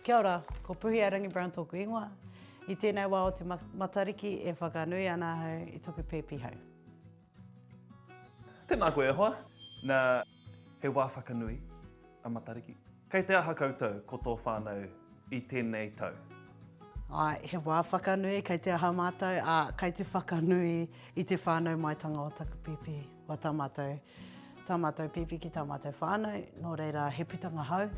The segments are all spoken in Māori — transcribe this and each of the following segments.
Kia ora, ko Puhia Rangi-Brown tōku ingoa. I tēnei wā o te Matariki e whakanui ana ahau i toku pēpi hau. Tēnā koe e hoa. Na, he wā whakanui a Matariki. Kei te aha koutou ko tō whānau i tēnei tau? Āe, he wā whakanui, kei te aha mātou, ā, kei te whakanui i te whānau maitanga o taku pēpi. Ko tā mātou, tā mātou pēpi ki tā mātou whānau, nō reira he putanga hou,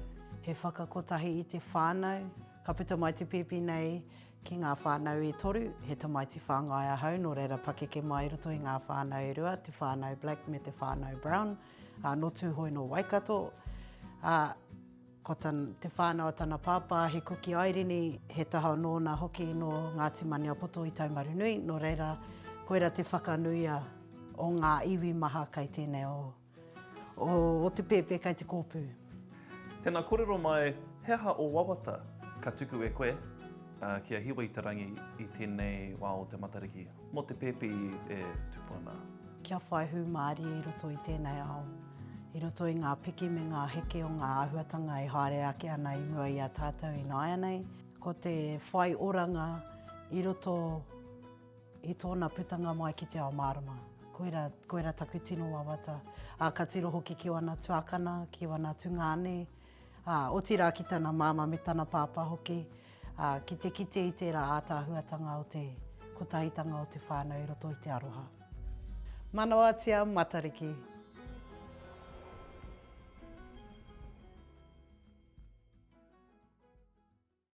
he whakakotahi i te whānau. Ka puta mai te pēpi nei ki ngā whānau e toru, he tamaiti whāngai ahau, nō reira pakeke mai i roto i ngā whānau e rua, te whānau Black me te whānau Brown, ā, nō Tūhoe nō Waikato. Ā. Ko te whānau a tana pāpā, he kuki airini, he taha anō nā hoki nō Ngāti Maniapoto i Taumarunui, nō reira, koira te whakanuia o ngā iwi maha kei tēnei o, o Otepēpē kei te kōpū. Tēnā, kōrero mai, he aha ō wawata ka tuku e koe kia hiwa i te rangi i tēnei wā o te Matariki? Mō te pēpi e tupu ana. Kia whai hūmārie i roto i tēnei ao, i roto i ngā piki me ngā heke o ngā āhuatanga e haere ake ana i mua i a tātou ināianei. Ko te whai oranga i roto i tōna putanga mai ki te ao mārama. Koira, koira taku tino wawata. Ā, ka tiro hoki ki wana tuakana, ki wana tungāne, Ā, otirā ki tana māmā me tana pāpā hoki, ā, ki te kite i tērā ātaahuatanga o te kotahitanga o te whānau i roto i te aroha. Manawatia Matariki.